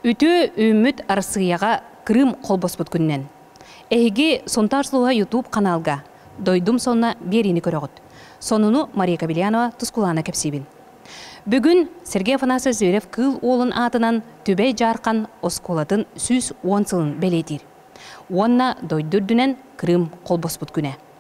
Үтүө үүммүт Арассыыйаҕа Крым холбоспут күнүнэн. Эһиги Сунтаар Слуга YouTube каналга Дойдум сонно биэриини көрөҕүт. Сонуну Мария Кабельянова Тускулаана кэпсиибин. Бүгүн Сергей Афанасьевич Зверев Кыыл Уолун аатынан Түбэй Дьаархан оскуолатын сүүс уон сылын бэлиэтиир. Уонна дойду үрдүнэн Крым холбоспут күнэ.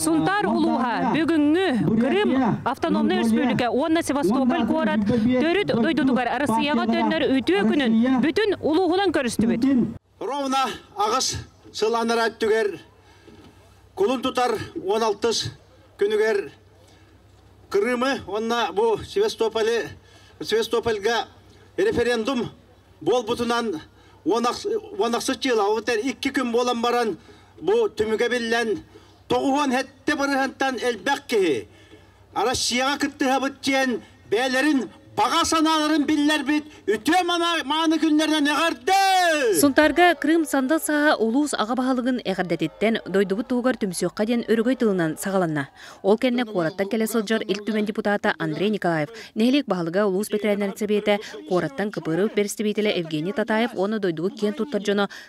Сунтаар улууһа бүгүҥҥү Крым автономнай республика уонна Севастополь куорат төрүт дойдутугар Россияҕа төннөр үтүө күнүн бүтүн улууһунан көрүстүбүт. Ровно аҕыс сыл анара өттүгэр кулун тутар 16 күнүгэр Крымы уонна бу Севастополь, Севастопольга референдум буолбутунан уонахсыт дьыала эбэтэр икки күн буолан баран бу түмүгэ биллэн тоҕуһуон сэттэ бырыһынтан элбэх киһи Россияҕа кыттыһабыт диэн бэйэлэрин баҕа санааларын биллэрбит үтүө мааны күннэринэн эҕэрдэ! Сунтаарга Крым сандал сааһа улуус аҕа баһылыгын эҕэрдэтиттэн дойдубут туһугар түмсүөххэ диэн өрөгөй тылынан саҕаланна. Ол кэннэ куораттан кэлэ сылдьар Ил Түмэн депутата Андрей Николаев, нэһилиэк баһылыга улуус бэтэрээннэрин сэбиэтэ, куораттан КПРУ бэрэстэбиитэлэ Евгений Татаев уонна дойдуга киэн туттар дьоно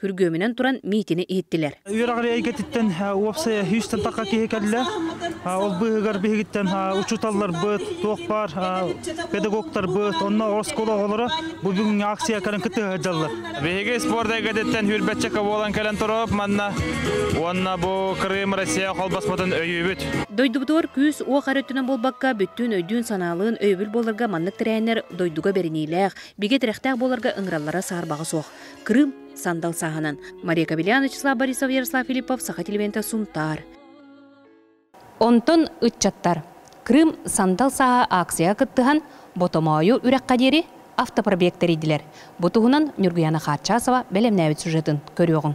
күргүөмүнэн туран миитини иһиттилэр. Үөрэх эйгэтиттэн уопсайа сүүстэн тахха киһи кэллэ. Ол быыһыгар биһигиттэн учууталларбыт, туох баар педагогтарбыт, онно оскуола оҕолоро бу бүгүҥҥү акциякарын кытта сылдьаллар. Биһиги спорт эйгэтиттэн үрбэтчэкэ буолан кэлэн турап манна уонна бу Крым Россия холбоспотун өйүүбүт. Дойдубутугар күүс уох эрэ өттүнэн буолбакка, бүттүүн өйдүүн-санаалыын өйөбүл буоларга маннык тэрээннэр дойдуга бэриниилээх, бигэ тирэхтээх буоларга ыҥыраллара саарбаҕа суох. Крым сандал сааһынан Мария Кабелян Вячеслав Борисов Ярослав Филиппов Саха телевиденте Сунтаар. Онтон ыччаттар Крым сандал сааһа акцияга кыттыһан Ботомоойу үрэххэ диэри автопробег тэрийдилэр. Бу туһунан Нюргуяна Харчасова бэлэмнээбит сюжетын көрүөҕүҥ.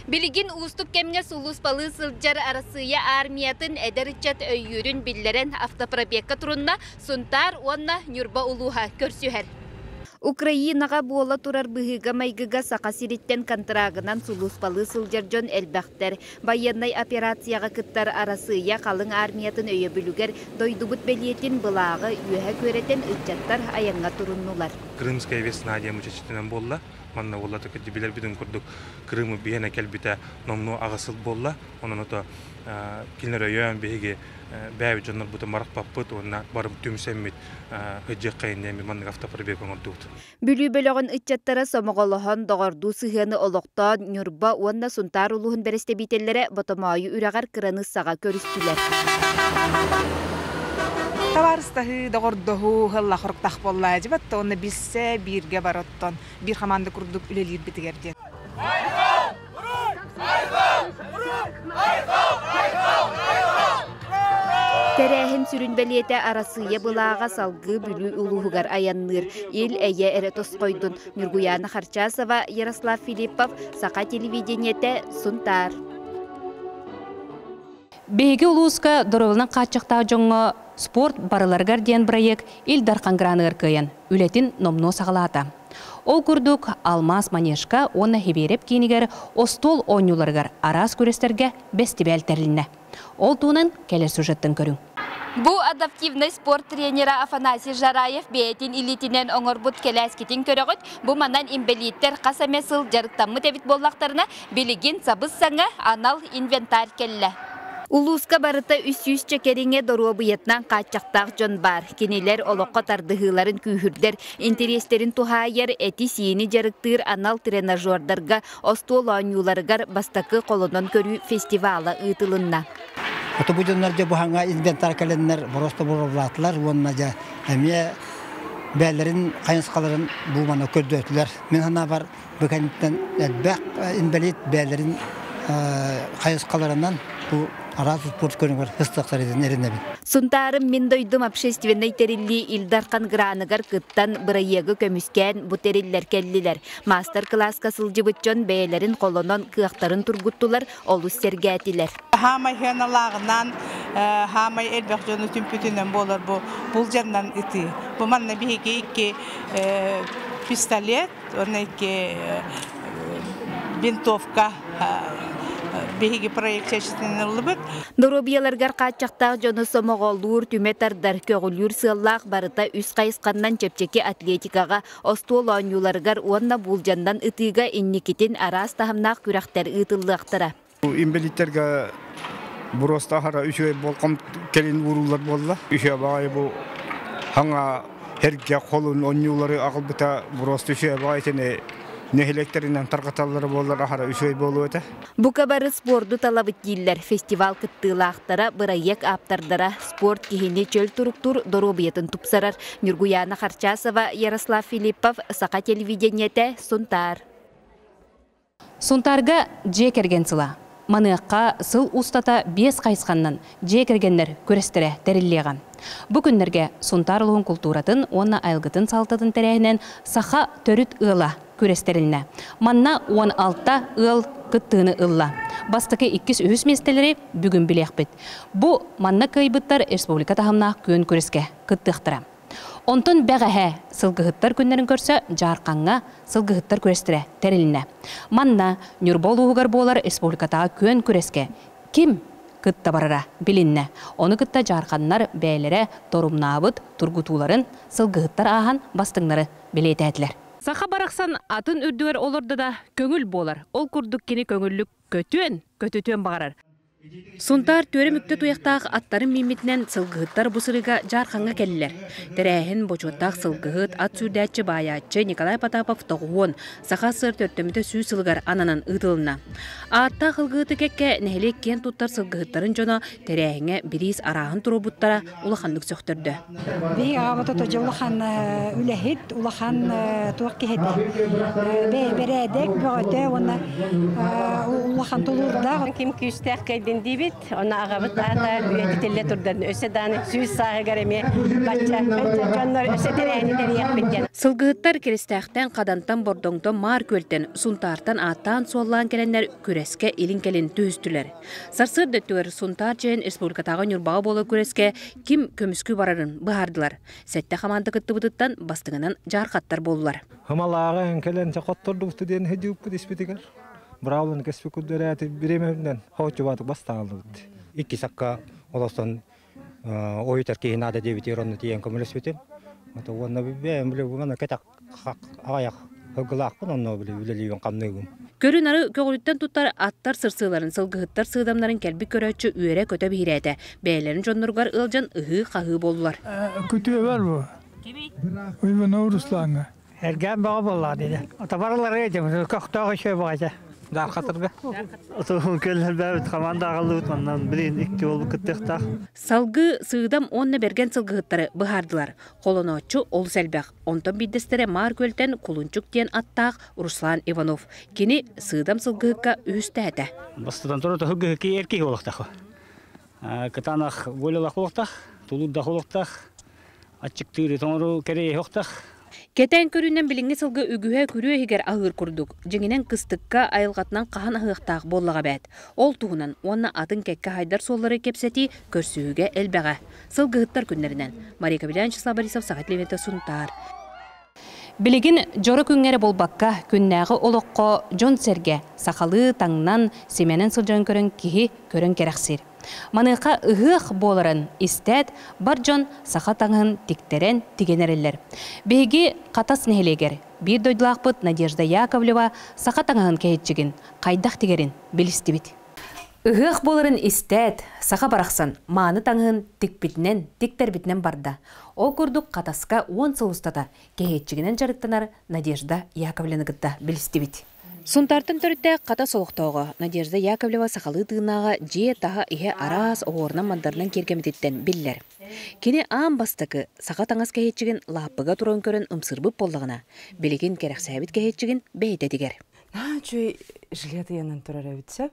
Билигин уустук кэмҥэ сулууспалыы сылдьар Арассыыйа аармыйатын эдэр ыччат өйүүрүн биллэрэн автопробегка турунна Сунтаар уонна Ньурба улууһа көрсүһэр. Украинаҕа буола турар быһыыга-майгыга Саха сириттэн контрагынан сулууспалыы сылдьар дьон элбэхтэр. Байыаннай операцияҕа кыттар Арассыыйа халыҥ аармыйатын өйөбүлүгэр дойдубут бэлиэтин былааҕы үөһэ күөрэтэн ыччаттар айаҥҥа туруннулар. Крымская весна диэн мучачитынан буолла. Манна уоллатык билэрбитин курдук, Крым биһэнэ кэлбитэ номнуо аҕыс сыл буолла. Онон ото кинилэр өйөөн биһиги бээбит дьоннорбутун марахпаппыт уонна бары түмсэммит Бүлүү бөлөҕүн ыччаттара сомоҕолоһон, доҕордуу сыһыаны олохтоон Ньурба уонна Сунтаар улууһун бэрэстэбиитэллэрэ Ботомоойу үрэҕэр кыраныыссаҕа көрүстүлэр. Табаарыстаһыы, доҕордоһуу ылла хоруктаах буолла дьыбат уонна билсэ бииргэ бар оттон биир хамаанда курдук үлэлиирбитигэр диэн. Тэрээһин сүрүн бэлиэтэ Арассыыйа былааҕа салгыы Бүлүү улууһугар айанныыр Ил Эйэ эрэ тосхойдун Ньургуйаана Харчасова, Ярослав Филиппов, Саха телевидениетэ Сунтаар. Биһиги улууска доруобунан хааччахтаах дьоҥҥо Спорт барыларыгар диэн бырайыак Ил Дархан граныгар кыайан, үлэтин номнуо саҕалаата. Ол курдук, Алмаас манежка уонна Хибиэрэп киинигэр остуол оонньууларыгар араас күрэстэргэ бэстибээл тэрилиннэ. Ол туһунан кэлэр сюжеттан көрүҥ. Бу адаптивнай спорт тренера Афанасий Жараев бэйэтин илиитинэн оҥорбут кэлээскитин көрөҕүт. Бу манан инбэлииттэр хас эмэ сыл дьарыктаммыт эбит буоллахтарына, билигин сабыс-саҥа анал инвентарь кэллэ. Улууска барыта үс сүүсчэ кэриҥэ доруобуйатынан хааччахтаах дьон баар. Кинилэр олоххо тардыһыыларын күүһүрдэр Интэриэстэрин туһаайар, эти-сиини дьарыктыыр анал тренажердарга, остуол оонньууларыгар бастакы холонон көрүү фестивала ыытылынна. Хоту бу дьоннор дьэ Буһаҥҥа инвентар кэлэннэр бороосто буруоллаатылар уонна дьэ эмиэ бэйэлэрин хайысхаларын бууманы көрдөөтүлэр. Мин санаабар бу кэнниттэн элбэх инбэлиит бэйэлэрин хайысхаларынан бу араас спорт көрүҥүгэр сыстахтар идин эринэбин. Сунтаарым мин дойдум общественнай тэриллии Ил Дархан граныгар кыттан бырайыагы көмүскээн бу тэриллэр кэллилэр. Маастар-кылааска сылдьыбыт дьон бэйэлэрин холонон кыахтарын тургуттулар, олус сэргээтилэр. Хаамай сыаналааҕынан хаамай элбэх дьону түмпүтүнэн буолар бу булдьаннан ытыы. Бу манна биһиги икки пистолет винтовка биһиги проектироваллыбыт. Доруобуйаларгар хааччахтаах дьону сомоҕоллуур, түмэ тардар, көҕүлүүр сыаллаах барыта үс хайысханнан чэпчэки атлетикаҕа, остуол оонньууларыгар уонна буулдьаннан ытыыга инникитин араас таһымнаах күрэхтэр ыытыллыахтара. Инвалидтерге буруостаахара үчүгэй болком кэлин ууруллар буолла. Үчүгэй баҕайы бу хаҥа эргэ холун онньуулары аҕалбыта буруосты үчүгэй баҕайы итини нэһилиэктэринэн тарҕаталлара буоллар аһара үчүгэй буолуо этэ. Бука бары спорду талабыт дииллэр фестиваль кыттыылаахтара, бырайыак ааптардара, спорт киһини чөл туруктуур доруобуйатын тупсарар Ньургуйаана Харчасова, Ярослав Филиппов, Саха телевидениете, Сунтаар. Сунтаарга дьиэ кэргэн сыла. Маныаха сыл устата биэс хайысханнан дьиэ кэргэннэр күрэстэрэ тэриллиэҕэ. Бу күннэргэ Сунтаар улууһун култууратын уонна айылгытын салалтатын тэрээһинин Саха төрүт ыала күрэстэриннэ. Манна уон алта ыал кыттыыны ылла. Бастакы иккис үһүс миэстэлэри бүгүн билиэхпит. Бу манна кыайбыттар республика таһымнаах күөн күрэскэ кыттыахтара. Онтон бэҕэһээ сылгыһыттар күннэрин көрсө Дьаархаҥҥа сылгыһыттар күрэстэрэ тэрилинэ. Манна Ньурба улууһугар буолар республикатааҕы күөн күрэскэ ким кытта барара билиннэ. Ону кытта дьаарханнар бэйэлэрэ торумнаабыт тургутууларын, сылгыһыттар ааһан бастыҥнары бэлиэтээтилэр. Саха барахсан атын үрдүгэр олордо да, көҥүл буолар. Ол курдук кини көҥүллүк көтүөн, көтүтүөн баҕарар. Сунтаар түөрэ мүктэ туйахтаах аттарын мииммитинэн сылгыһыттар бу сырыыга дьаархаҥҥа кэллилэр. Тэрээһин бочуоттаах сылгыһыт, ат сүүрдээччи баайааччы Николай Потапов тоҕуһуон саха сыр төрдөмүтэ сүүс сылыгар ананан ыытылынна. Ааттаах ылгыыты кэккэ нэһилиэк киэн туттар сылгыһыттарын дьоно тэрээһиҥҥэ бириис арааһын туруорбуттара, улаханнык сөхтөрдө. Биһиги аҕабыт отожо улахан үлэһит, улахан туох киһитэ. Бэрээдэк, бөҕөтө уонна улахан тулуурдаах. Ким күүстээх кэйдин диибит, онно аҕабыт аата үйэтэ тиллэ турдан өссө дааны сүүс сааһыгар эмиэ бачча дьоннор өссө тэрээни тэрийэхпит диэн. Сылгыһыттар Киристээхтэн, Хадантан, Бордоҥтон Маар Күөлтэн, Сунтаартан ааттаан-суоллаан кэлэннэр күрэскэ илин кэлин түһүстүлэр. Сарсыарда өттүгэр Сунтаар Чээн республикатааҕы Ньурбаҕа буолар күрэскэ ким көмүскүү барарын быһаардылар. Сэттэ хамаанда кыттыбытыттан бастыҥынан дьаархаттар буоллулар. Хымалааҕы кэлэн хоттордубуту диэн һыдьыыппыт испитигэр браулын кэспикут дөрөөтү бириэмэбинэн хооччубаатык бастаалыбыт. Иккис акка олостон ой киһи наада диэбитигэр онно тиийэн көмөлөспүтүм. Ото уонна бэйэм биле бугана кэтэх аҕайах һылгылаахпын онно биле үлэлиибин хамныыбын. Көрүнары көҕүлүттэн туттар аттар сырсыыларын, сылгыһыттар сыыдамнарын кэлбит көрөөччү үөрэ-көтө биһирээтэ. Бэйэлэрин дьонноругар ыалдьан ыһыы-хаһыы боллулар. Күтүөбэр бу. Уйбана Руслаҥа. Эргээн бөҕө буоллаҕа диэтэ. Атабар ылара этим. Көхтөөх еще баҕайча. Даархатырга. Отуһун кэллэрбээбит хамаанда аҕаллыбыт манан билин икки ол кыттыахтаах. Салгыы Сыыдам уонна Бэргэн сылгыһыттары быһаардылар. Холонооччу олус элбэх. Онтон биирдэстэрэ Маар Күөлтэн Кулунчук диэн аттаах Руслан Иванов. Кини Сыыдам сылгыһыкка үһүстээтэ. Бастатан туран отуһу киһи эр киһи олохтаах. кытаанах волялах олохтах, тулуурдах олохтах, аччыктыыры тоҥору кэрэйэ охтах. Кэтээн көрүүнэн билиҥҥи сылга үгүһэ күрүө иһигэр аһыыр курдук. Дьиҥинэн кыстыкка, айылҕатынан хаһан аһыахтаах буоллаҕа эбээт. Ол туһунан уонна атын кэккэ хайдар суоллары кэпсэтии көрсүһүүгэ элбэҕэ. Сылгыһыттар күннэринэн Мария Кобелян, Числав Борисов, Саха телевидения Сунтаар. Билигин дьоро күҥҥэ эрэ буолбакка, күннээҕи олоххо дьон-сэргэ, сахалыы таҥнан, симэнэн сылдьарын көрөн киһи көрөн кэрэхсиир. Маныаха ыһыах буоларын истээт, бар дьон саха таҥаһын тиктэрэн тигэн эрэллэр. Биһиги Хатас нэһилиэгэр биир дойдулаахпыт Надежда Яковлева саха таҥаһын кэһиччигин хайдах тигэрин билистибит. Ыһыах буоларын истээт, саха барахсан мааны таҥаһын тикпитинэн, тиктэрбитинэн барда. Ол курдук Хатаска уон сыл устата кэһиэччигинэн дьарыктанар Надежда Яковлеваны кытта билистибит. Сунтаартан төрүттээх Хатас олохтооҕо Надежда Яковлева сахалыы тыынааҕа дьиэ таһа-иһэ араас оһуорунан-мандарынан киэргэммититтэн биллэр. Кини аан бастакы саха таҥас кэһиэччигин лааппыга туран көрөн ымсыырбыт буоллаҕына, билигин кэрэхсээбит кэһиэччигин бэйэтэ этигэр. Үчүгэй жилет ыйанан турар эбит сөп.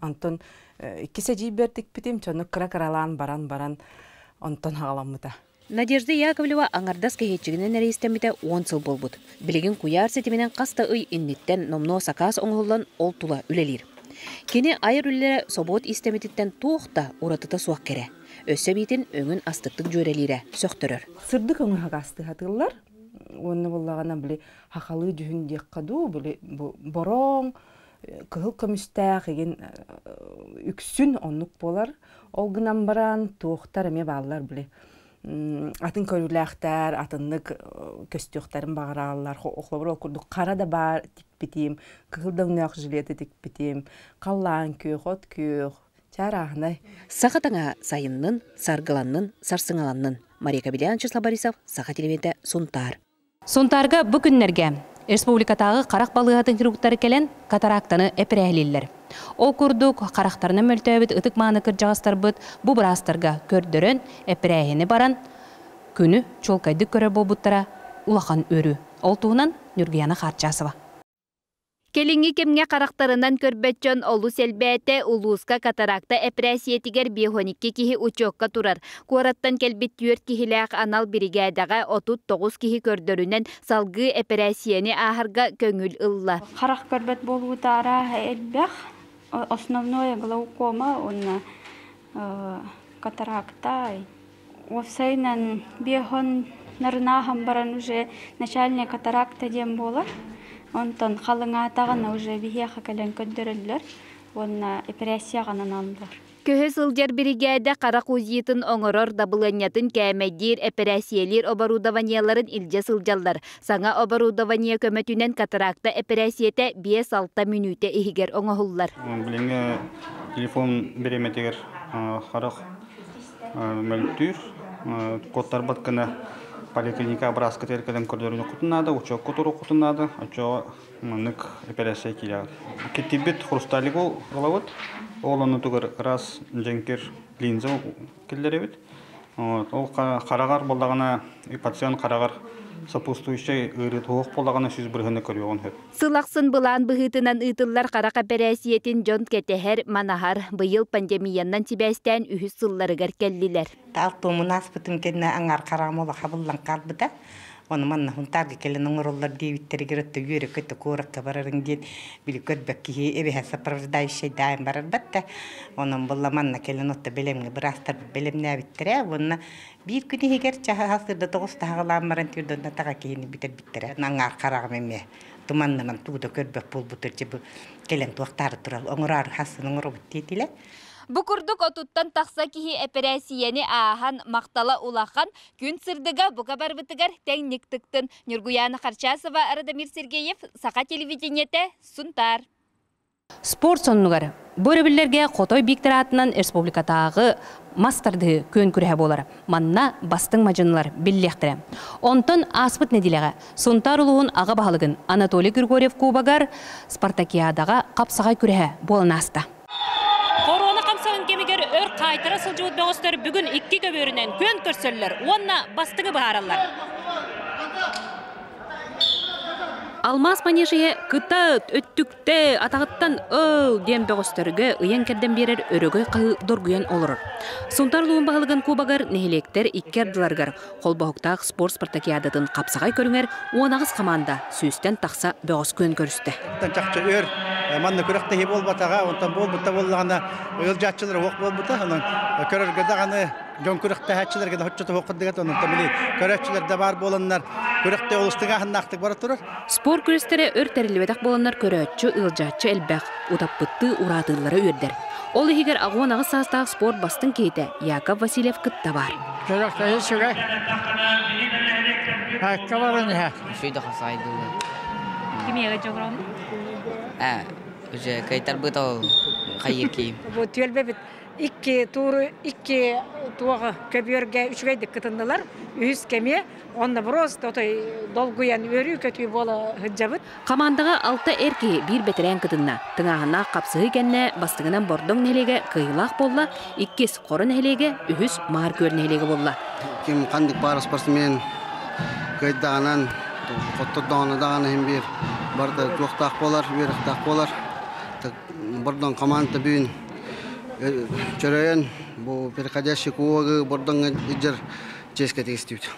Онтон иккис эдьиийбэр тикпитим, дьону кыра-кыралаан баран-баран онтон хаҕаламмыта. Надежда Яковлева аҥардас кэһииччигинэн эрэйистэммитэ уон сыл буолбут. Билигин куйаар ситиминэн хас да ый инниттэн номнуо сакаас оҥоһуллан ол тула үлэлиир. Кини айар үлэлэрэ собуот иистэммититтэн туох да уратыта суох кэрэ. Өссө эбиитин өҥүн астыктык дьүөрэлиирэ сөхтөрөр. Сырдык өҥөһө гаастыһатыллар. Уонна буоллаҕына били хахалыы дьүһүн диэххэ дуу, били бороҥ кыһыл көмүстээх игин үксүн оннук буолар. Ол гынан баран туохтар эмиэ бааллар били атын көрүүлээхтэр атыннык көстүөхтэрин баҕарааллар холобур ол курдук хара да баар тикпитим кыһыл да өҥнөөх жилеты тикпитим халлаан күөх от күөх чаарааһынай саха таҥа сайыннын саргыланнын сарсыҥаланнын мария кабелян числа борисов саха телевидения сунтаар Сунтаарга бу күннэргэ республикатааҕы харах балыыһатын хирургтары кэлэн катарактаны эпэрээһилииллэр. Ол курдук, харахтарына мөлтөөбүт ытык-мааны кырдьаҕастарбыт бу быраастарга көрдөрөн, эпэрээһини баран, күнү чуолкайдык көрөр буолбуттара улахан өрүү. Ол туһунан Нюргуяна Хааччаасова. Кэлиҥҥи кэмҥэ харахтарынан көрбөт дьон олус элбээтэ, улууска катаракта эпэрээссийэтигэр биэһон икки киһи учуокка турар. Куораттан кэлбит түөрт киһилээх анал биригээдэҕэ отут тоҕус киһи көрдөрүнэн салгыы эпэрээссийэни ааһарга көҥүл ылла. Харах көрбөт буолуутаара элбэх. Основное глаукома уонна катаракта Уопсайынан биоһон нарынааһын баран уже начальник атаракта диэн буолар. Онтон халыҥаатаҕына уже биһиэхэ кэлэн көрдөрөллөр уонна эпэрээссийэҕанан ааллылар. Көһө сылдьар биригээдэ харах УЗИтын оҥорор дабылыанньатын кээмэйдиир эпэрээссийэлиир оборудованиеларын илдьэ сылдьаллар. Саҥа оборудование көмөтүнэн катаракта эпэрээссийэтэ биэс-алта мүнүүтэ иһигэр оҥоһуллар. Билиҥҥи телефон бириэмэтигэр харах мөлтүүр куттарбат гына поликлиника образкатыгар кэлэн көрдөрүнүххутун наада учуокку туруоххутун наада оччоҕо маннык эпиляция киирээҕэр киттирбит хрусталигу ылабыт ол оннутугар раз дьэҥкир линза киллэрэбит ол хараҕар буоллаҕына пациент хараҕар сопутствующай ыарыы туох буоллаҕына сүүс бырыһыана көрүөҕүн сөп Сыл ахсын былаан быһыытынан ыытыллар харах эпэрээссийэтин дьон кэтэһэр, манаһар. Быйыл пандемияннан сибээстээн үһүс сылларыгар кэллилэр. Алтымын ааспытым кэннэ аҥаар хараҕым олаха буллан хаалбыта. Ону манна хунтаарга кэлэн оҥороллор диэбиттэригэр отто үөрөкөтө куоракка барарын диэн били көрбөк киһи эбэһэ сопровождающай даайым барарбат да онон булла манна кэлэн отто бэлэмҥэ быраастар бэлэмнээбиттэрэ уонна Биир күн иһигэр чаһы аһал сырда тоҕус таһаҕалаан баран тыырдыннатаҕа киһини бүтэрбиттэрэ аҥаар хараҕым эмиэ туман наман туута көрбөх буолбутугар дьэ бу кэлэн туохтаары турал оҥороору хассын оҥоробут диэтилэр Бу курдук отуттан тахса киһи эпэрээссийэни ааһан махтала улахан күн сырдыга бука барбытыгар тэҥник тыктын Ньургуяна Харчасова Радомир Сергеев Саха телевидениете Сунтаар Спорт соннугар бу өрөбүллэргэ Хотой Бииктэр аатынан республикатааҕы мас тардыһыы күөн-күрэһэ буолара. Манна бастыҥ мадьынылар биллиэхтэрэ. Онтон ааспыт нэдиэлэҕэ Сунтаар улууһун аҕа баһылыгын Анатолий Григорьев кубогар Спартакиадаҕа хапсаҕай күрэһэ буолан ааста. Хоруона хамсаҕын кэмигэр өр хаайтара сылдьыбыт бөҕөстөр бүгүн икки көбүөрүнэн күөн көрсөллөр уонна бастыҥы быһаараллар. Алмаас манеж иһэ кыта өттүк Тэ, атаҕыттан ыл! диэн бөҕөстөргө ыйан-кэрдэн биэрэр өрөгөй хаһыы доргуйан олорор. Сунтаар улуун баһылыгын куобагар нэһилиэктэр икки ардыларыгар холбоһуктаах спорт спартакиадатын хапсаҕай көрүҥэр уон аҕыс хамаанда сүүстэн тахса бөҕөскөөн көрүстэ. Оттон чахчы өр манна күрэхтэһии буолбатаҕа, онтон буолбут да буоллаҕына, ыалдьааччылар уох буолбута. Онон көрөргө даҕаны дьон күрэхтэһээччилэргэ да соччотоһуоххут дегет онунтан били көрөөччүлэр да баар буоланнар күрэхтэ олустук ааһыннаахтык бара турар спорт күрэстэрэ өр тэриллибэтэх буоланнар көрөөччү ыалдьааччы элбэх утаппыттыы ураатыыллара үөрдэр ол иһигэр агон аҕыс саастаах спорт бастыҥ киһитэ яков васильев кытта бар күрэхтэһии сүрэй Әккә баран иһә. Шөйдө хасайдылы. Кимеге жогром? Э, уже кайтарбыт ол хайыр киим. Вот түөлбе бит Икки тууру икки туох көбүөргэ үчүгэйдик кытыннылар. Үһүс кэмиэ онно брост отой долгуйан үөрүү-көтүү буола сылдьабыт. Хамаандаҕа алта эр киһи биир бэтэрээн кытынна. Тыҥааһыннаах хапсыһыы кэннэ бастыҥынан Бордоҥ нэһилиэгэ кыайыылаах буолла, иккис Хоро нэһилиэгэ, үһүс Маар Күөл нэһилиэгэ буолла. Ким ханнык баар спортсмен кыайдаҕынан, хоттордоҕуна даҕаны иһин биир барыта туохтаах буолар, үөрэхтээх буолар. Бордоҥ хамаанда бүгүн Чөрөйөн бу переходящий кулагы бордоҥҥа ижер ческэтик истибит.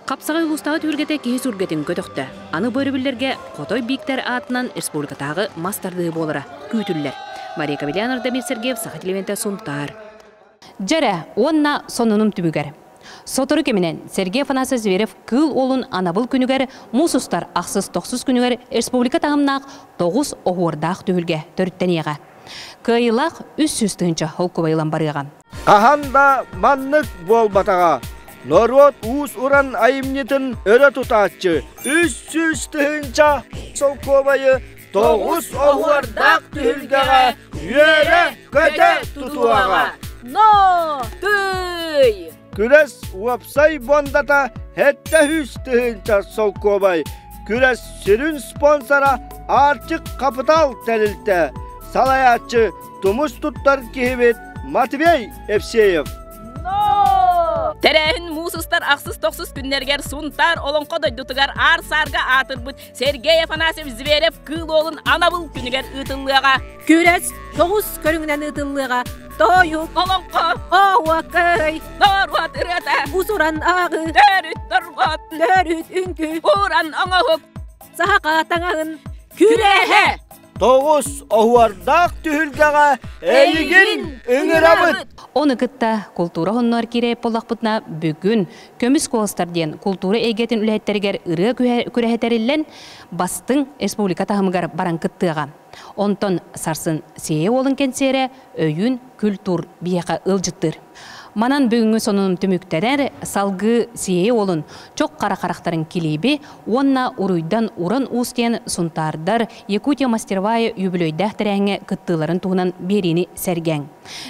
Хапсаҕай улуустааҕы түһүлгэтэ киһи сүргэтин көтөхтө. Аны бу өрөбүллэргэ Хотой Бииктэр аатынан республикатааҕы мас тардыһыы буолара күүтүллэр. Мария Кавелян Ардамир Сергеев Саха телевиденте Сунтаар. Дьэ эрэ уонна сонунум түмүгэр. Сотору кэминэн Сергей Афанасьев Зверев Кыыл Уолун анабыл күнүгэр муус устар ахсыс-тохсус күнүгэр республика таһымнаах тоҕус оһуордаах түһүлгэ төрүттэниэҕэ. Кыайыылаах үс сүүс тыһыынча холкубай ылан барыаҕа. Хаһан да маннык буолбатаҕа. Норуот уус-уран айымньытын өрө тутааччы үс сүүс тыһыынча солкуобайы тоҕус оһуордаах түһүлгэҕэ үөрэ көтө тутуаҕа нотуй күрэс уопсай буондата сэттэ үс тыһыынча солкуобай күрэс сүрүн спонсора Арчык Хапытал тэрилтэ салайааччы тумус туттар киһибит Матвей Евсеев Тэрээһин муус устар ахсыс-тохсус күннэригэр Сунтаар Олоҥхо дойдутугар аар-саарга аатырбыт Сергей Афанасьевич Зверев кыыл уолун анабыл күнүгэр ыытыллыаҕа. Күрэс тоҕус көрүҥүнэн ыытыллыаҕа. Тоойук олоҥхо Ооwa кырай норуот ырыата Усуран ааҕыы төрүт торҕот Төрүт үҥкүү Уран оҥоһук Саха таҥаһын Күрэһэ тоҕус оһуордаах түһүлгэҕэ эйигин ыҥырабыт. Ону кытта култуура хоһуннар киирээт буоллахпытына бүгүн көмүс куоластар диэн култуура эйгэтин үлэһиттэригэр ырыа күрэһэ тэриллэн бастыҥ республика таһымыгар баран кыттыаҕа. Онтон сарсын Сиэйэ уолун кэнсиэрэ өйүүн культуур биһиэхэ ыалдьыттыыр. Манан бүгүҥҥү сонунум түмүктэнэр, салгыы Сиэйэ уолун Чох хара харахтарын килииби уонна Уруйдан уран уус диэн сунтаардар Якутия мастервая юбилейдаах тэрээҥҥэ кыттыыларын туһунан биэриини сэргээҥ.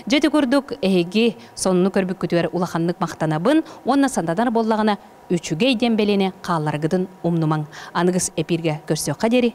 Дьэ ити курдук эһиги сонуну көрбүккүтүгэр улаханнык махтанабын уонна санатанар буоллаҕына үчүгэй диэн бэлиэни хааллараргытын умнумаҥ. Аныгыс эпииргэ көрсүөххэ диэри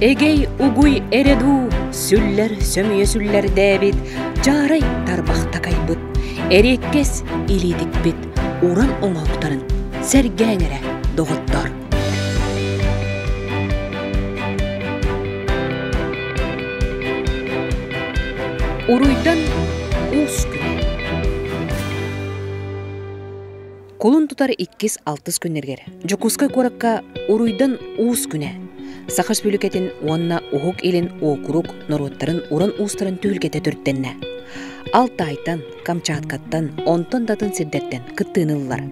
Эгэй угуй эреду сүллэр сөмүйө сүллэрдээбит дьаарай тарбахтакайбыт эриэккэс илиитикпит уран оҥоһуктарын сэргээҥ эрэ доҕоттоор Уруйдан уус күн Кулун тутар иккис-алтыс күннэргэр Дьокуускай куоракка Уруйдан уус күнэ Саха Республикатын уонна Уһук Илин уокурук норуоттарын уран уустарын түһүлгэтэ түртэннэ. Алтайтан, Камчаткаттан, онтон датын сирдэртэн кыттыыныллар.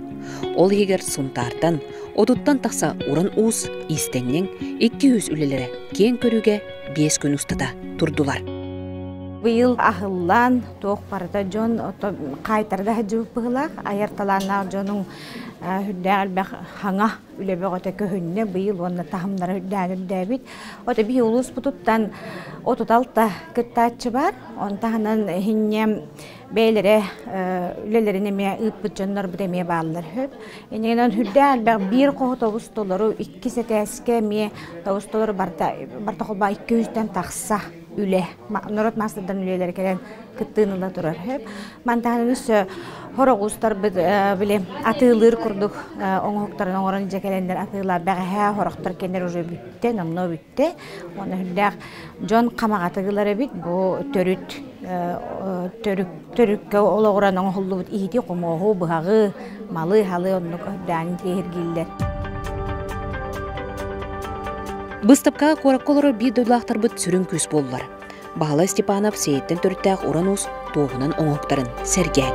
Ол иһигэр Сунтаартан, Отуттан тахса уран уус иистэнньэҥ икки үс үлэлэрэ киэҥ көрүгэ биэс күн устата турдулар. Быйыл аһыллан туох барыта дьон хаайтарда сылдьыбыт быһылаах айар талааннаах дьонуҥ үрдээх элбэх хаҥа үлэ бөҕөтө көһүннэ быйыл уонна таһымнара үрдээн үрдээбит ото бии улууспутуттан отут алта кыттааччы бар он таһынан иһинньэ бэйэлэрэ үлэлэрин эмиэ ыыппыт дьоннорбут эмиэ бааллар үһү. Иннинэн үрдээн элбэх биир хоһотобус толору иккис этээскэ эмиэ тобус толору барта барта холбоо икки үстэн тахса үлэ норуот маастардарынан үлэлэрэ кэлэн кыттыыны ыла турар үһү. Мантан өссө хороҕуустарбыт били атыылыыр курдук оҥоһуктарын оҥорон дьэ кэлэннэр атыылаа бэҕэһээ хороқтор кэннэр уже бүттэ номнуо бүттэ эттэ уон үһүллээх дьон хамаҕатык ылар эбит бу төрүт төрүккэ олоҕуран оҥоһуллубут иһити хомооһу быһаҕы малы һалы оннук ырдаан тиэһиргииллэр быыстапкаҕа куоракка олорор биир дойдулаахтарбыт сүрүн күүс буоллар баһылай степанов сиэйиттэн төрүттээх уран уус туоһунан оҥоһуктарын сэргээн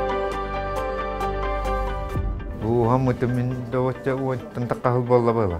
дууһам мытымин доҕотча уоттан таххаһыл буолла была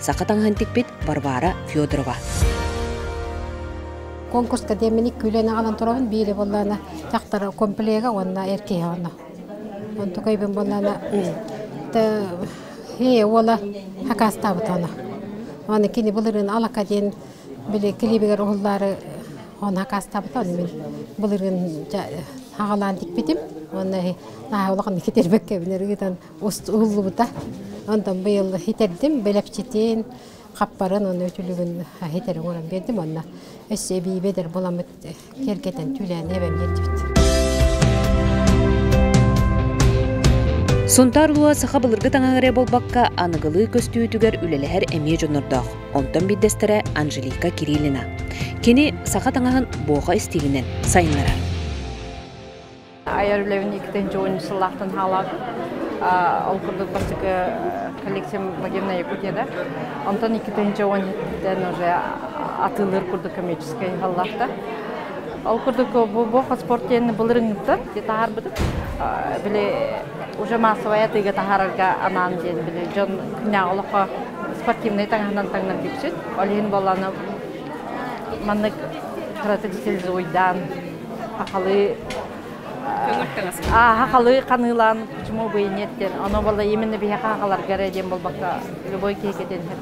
Саха таҥаһын тикпит Варвара Федорова. Конкурска деминик күүлэн аҕанан турабын биири боллаана тахтар комплега уонна эр киһи уонна. Онту көйбен боллаана Е уола хакаастаабытана. Оны кини былырын алака диэн били клибигер уһуллаары оны хакаастаабыта оны мен былырын хагалаан тикпитим. Онна наһаулахан китербеккэ бинер ыытан уһуллубута. Онтон быйыл иһитэрдим бэлэпчитин, хаппарын аны үтүлүгүн иһитэрин көрөн биэрдим уонна өссө эбиибэдэр буламмыт кэргэтэн түүлээн эбэм биэрдибит. Сунтаар улуа саха былыргы таҥаһы эрэ буолбакка, аныгылыы көстүүтүгэр үлэлэһэр эмиэ дьоннордоох. Онтон биирдэстэрэ Анжелика Кириллина. Кини саха таҥаһын буоха истиилинэн сайыннарар. айар үлэбин иккитин чугун сыллаахтан хаалаатым. Ол курдук бастакы коллективим Благевна Якутияда. Онтон иккитинчи оҕонньоттан уже атыылыр курдук коммерческай халлаахта. Ол курдук бу спорт диэнни былырыҥныттан таһарбытым. Били уже массовай атыыга таһарарга анаан диэн били дьон күнэ олохо спортивнай таҥаһынан таҥнар бүксүт. Ол иһин болланы маннык кыратык стилизуйдаан Хахалы Аха халы канылан чуму быйнеттен. Оно бала именно биһака хахаларга диэн болбакка любой киекетенһер.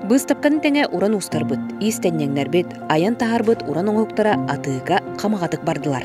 Быстапканы тэҥэ уран устарбыт, иистэнньэңнэрбит, айан таһарбыт уран оҥоһуктара атыыга хамаҕатык бардылар.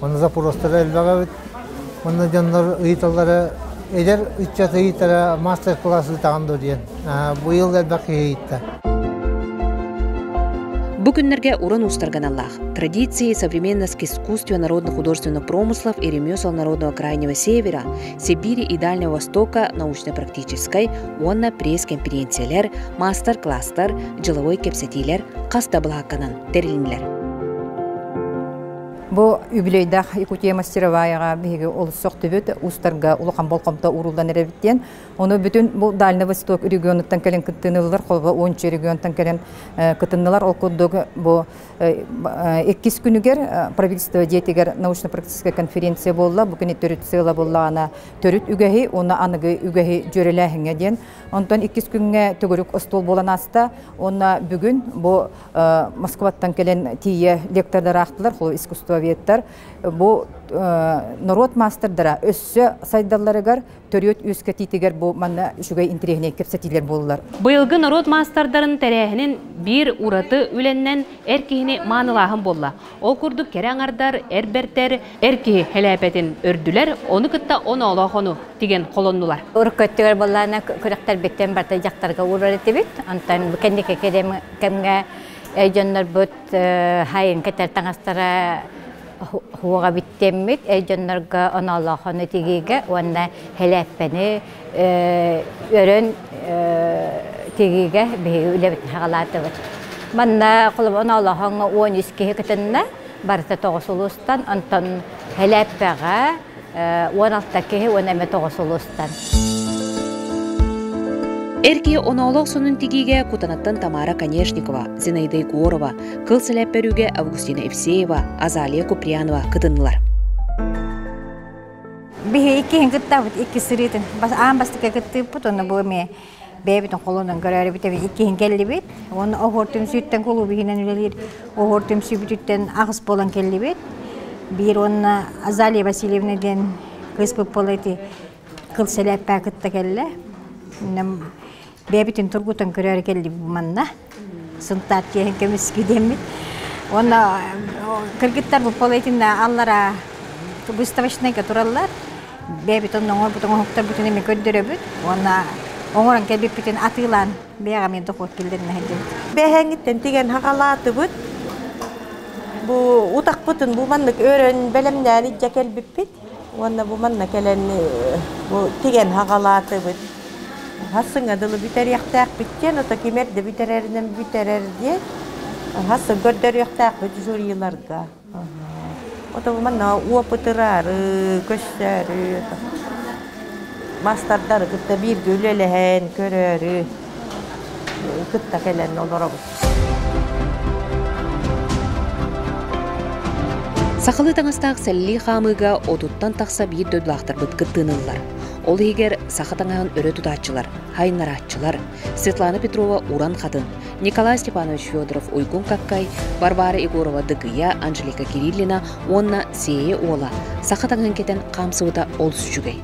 Манна запоростара элбэх эбит. Манна дьоннор ыйыталлара, эдэр ыччат ыйытара, мастер-класс ыытаҕын дуо диэн. Быйыл элбэх киһи ыйытта. Бу күннэргэ уран уустарганаллаах традиции современности искусства народно-художественного промыслов и ремесел народного крайнего севера, Сибири и Дальнего Востока научно-практической уонна пресс-конференциялар, мастер-класстар, дьыловой кэпсэтиилэр хас да былаһакканан тэрилинилэр. Бу үбүлүөйдээх Якутия мастероваяҕа биһиги олус сөхтүбүт, устарга улахан болҕомто ууруллан эрэбит диэн. Ону бүтүн бу Дальный Восток регионуттан кэлэн кыттыыны ыллылар, холобура Уонча регионтан кэлэн кытыннылар. Ол курдук бу иккис күнүгэр правительство дьиэтигэр научно-практическая конференция буолла. Бу күні төрүт сыала буллаҕана төрүт үгэһи, уонна аныгы үгэһи дьүөрэлээһиҥҥэ диэн. Онтон иккис күҥҥэ төгүрүк остуол буолан ааста. Уонна бүгүн бу Москваттан кэлэн тиийэ лектордар аахтылар, искусствоведтар. Бу норуот маастардара өссө сайдалларыгар, төрүөт үөскэтиитигэр бу манна үчүгэй интириэһинэй кэпсэтиилэр буоллулар. Быйылгы норуот маастардарын тэрээһинин биир ураты үлэннэн эр киһини маанылааһын буолла. Ол курдук кэрэ аҥардар, эр бэртэр, эр киһи хэлээпэтин өрдүлэр, ону кытта оноолоох ону тигэн холоннулар. Урукку өттүгэр буоллаана күрэхтэрбиттэн барыта дьахтарга уурар этибит. Онтон кэнники кэмҥэ дьоннорбут хайын кэтэр таҥастара хуоҕа бүттэммит дьоннорго оноолоох ону тигиигэ уонна хэлээппэни өрөн тигиигэ биһиги үлэбит хаҕалаатыбыт. Манна холобур Оноолоһоҥҥо уон үс киһи кытынна, барыта тоҕус улуустан, онтон Хэлээппэҕэ уон алта киһи уон эмэ тоҕус улуустан. Эр киһи оноолоох сонун тигиигэ Кутанаттан Тамара Конешникова, Зинаида Егорова, Кыл Сэлээппэрүүгэ Августина Евсеева, Азалия Куприянова кытыннылар. Биһи иккиһин кыттабыт икки сырыытын аан бастакы кыттыыппыт онно бу эмиэ бэйэбитин холонон көрөөрү бүтэбит иккиһин кэллибит уонна оһуор түмсүүттэн кулууп иһинэн үлэлиир оһуор түмсүү бүтүүттэн аҕыс буолан кэллибит биир уонна Азалия Васильевна диэн кыыс быппала ити кыл сэлээппээ кытта кэллэ бэйэбитин тургутан көрөөрү келлибит манна сынтаат киэһин көмүски диэммит уонна кыргыттарбыт полетинна аллара выставочнайга тураллар бэйэбитин оҥорбут оҥоһуктарбытын эми көрдөрөбүт уонна оҥорон кэлбиппитин атыылаан бэйэҕэ мен дохуот келлеринэ сылдьабыт бэһэҥиттэн тигэн хаҕалаатыбыт бу утахпытын бу маннык өрөн бэлэмнээн иччэ кэлбиппит Уонна бу манна кэлэн бу тигэн хаҕалаатыбыт. Хас сыҥа дылы бүтэриэхтээхпит диэн, ото кимэр да бүтэрэринэн бүтэрэр диэн, хас сыл көрдөрүөхтээхпит жюриларга. Ото бу манна опытыраары, көстөөрү, мастардары кытта бииргэ үлэлэһэн көрөөрү. кытта кэлэн олоробут сахалыы таҥастаах сэллии хаамыыга отуттан тахса биир дойдулаахтарбыт кыттыыныллар ол иһигэр саха таҥаһын өрө тутааччылар хайыннарааччылар светлана петрова уран хатын николай степанович федоров уйгун каккай варвара егорова дыгыйа анжелика кириллина уонна сиэйэ уола саха таҥаһын кэтэн хаамсыбыта олус үчүгэй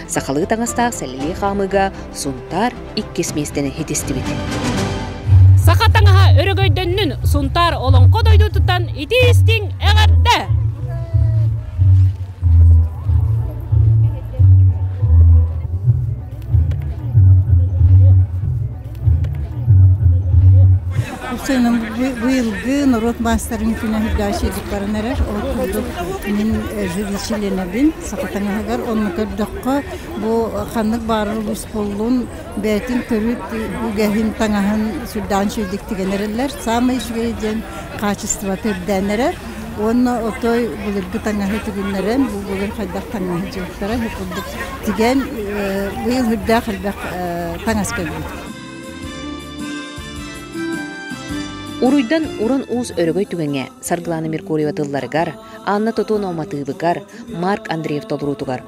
сахалыы таҥастаах сэллии хаамыыга сунтаар иккис миэстэни итистибит. Саха таҥаһа өрөгөйдөннүн Сунтаар Олоҥхо дойдутутан итии-истиҥ эҕэрдэ! Быйылгы норуот маастарын күнэ үрдэчиликпарын эрэ ол курдук мин живичиленэбин саха таҥаһыгар онну көрдөххө Бу ханнык баарар усуллун бэйэтин көрүт үгэһин таҥаһын сүрдээн сүрдүк тигэн эрэллэр. Саамай үчүгэй диэн хаачыстыбата үрдээн эрэр. Уонна отой былыргы таҥаһы тигиннэрэн, бу былыр хайдах таҥаһы дьыыттара бу курдук тигэн быйыл үрдээх элбэх таҥас кэлбит. Уруйдан уран уус өрөгөй түгэҥэ Саргылана Меркурьева тылларыгар, Анна Тотонова матыыбыгар, Марк Андреев толоруутугар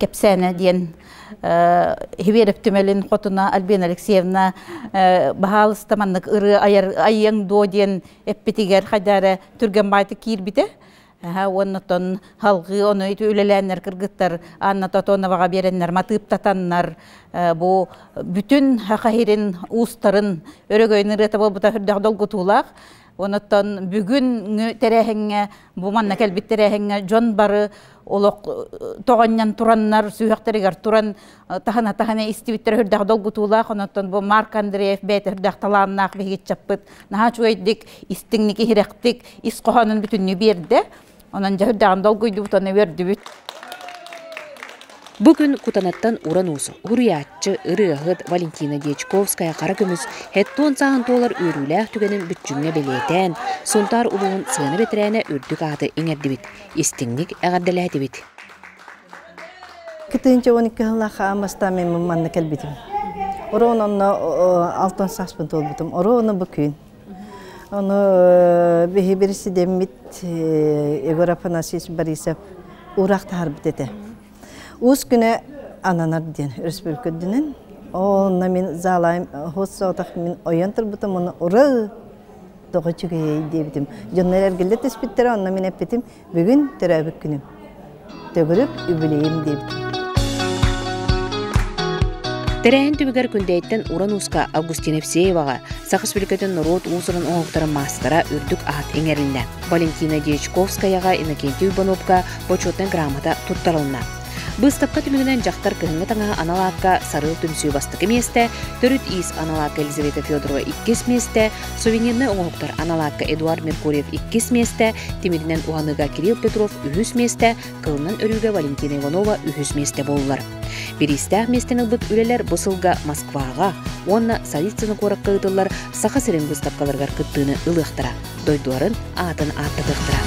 кэпсээнэ диэн Хиверев түмэлин хотуна Альбина Алексеевна баһаалыста маннык ырыа айар айыаҥ дуо диэн эппитигэр хайда эрэ түргэн баайты киирбитэ уоннатон халгыы ону ити үлэлээннэр кыргыттар Анна Тотоноваҕа биэрэннэр матыыптатаннар бу бүтүн хаһирин уустарын өрөгөйүн ырыата буолбута үрдэх долгутуулаах Онотон бүгүн тэрээһиҥҥэ, бу манна кэлбит тэрээһиҥҥэ дьон бары олох тоҕонньон тураннар сүһүөхтэригэр туран таһана-таһана истибиттэрэ үрдэх долгутуулаах, онотон бу Марк Андреев бэйэтэ үрдэх талааннаах биһигиччаппыт наһаа үчүгэйдик, истиҥник, иһирэхтик ис хоһоонун бүтүннүү биэрдэ. Онон дьэ үрдэҕин долгуйдубут, оны үөрдүбүт. Бу күн Кутанаттан уран-уус, уруйааччы, ырыаһыт Валентина Дьячковская хара көмүс хеттон сааһын туолар үөрүүлээх түгэнин бүччүмҥэ бэлиэтээн, Сунтаар улууһун сыана бэтэрээнэ үрдүк ааты иҥэрдибит, истиҥник эҕэрдэлээтибит. Кытыынча уон икки сыллаах астааммын манна кэлбитим. Оруон онно алтан сааспын туолбутум. Оруон бу күн. Ону биһибир сидеммит Егор Афанасьевич Борисов урак тахарбыт этэ. Уус күнэ ананар диэн республикадынын. Онна мин заалайым хоссоотах мин ойон турбутум оны ура тоҕо чүгэй диэбитим. Дьоннор эргиллэ түспүттэрэ онно мин эппитим Бүгүн төрөөбүт күнүм. Төгүрүк үбүлейим диэбитим. Тэрээһин түбүгэр Күндэйиттэн уран ууска Августина Евсееваҕа, Саха Республикатын норуот уусурун оҥоһуктарын маастара үрдүк аат иҥэриннэ. Валентина Дьячковскаяҕа Иннокентий Иванопка почетнай грамота туттарылынна. Быыстапка түмүгүнэн дьахтар кыһыҥҥы таҥаһы анал аакка сарыал түмсүү бастакы миэстэ, төрүт иис анал аакка Елизавета Федорова иккис миэстэ, сувенирнай оҥоһуктар анал аакка Эдуард Меркурьев иккис миэстэ, тимиринэн уһаныыга Кирилл Петров үһүс миэстэ, кылынан өрүүгэ Валентина Иванова үһүс миэстэ буоллар. Бириистээх миэстэни ылбыт үлэлэр бу сылга Москваҕа уонна Савицыно куоракка ыытыллар Саха сирин быыстапкаларыгар кыттыыны ылыахтара. дойдуларын аатын ааттатыахтара.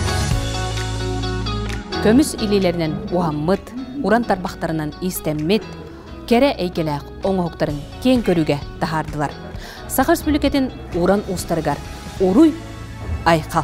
Көмүс илиилэринэн уһаммыт, уран тарбахтарынан истэммит, кэрэ эйгэлээх оҥоһуктарын киэҥ көрүүгэ таһаардылар. Саха Республикатын уран уустарыгар уруй Айхал!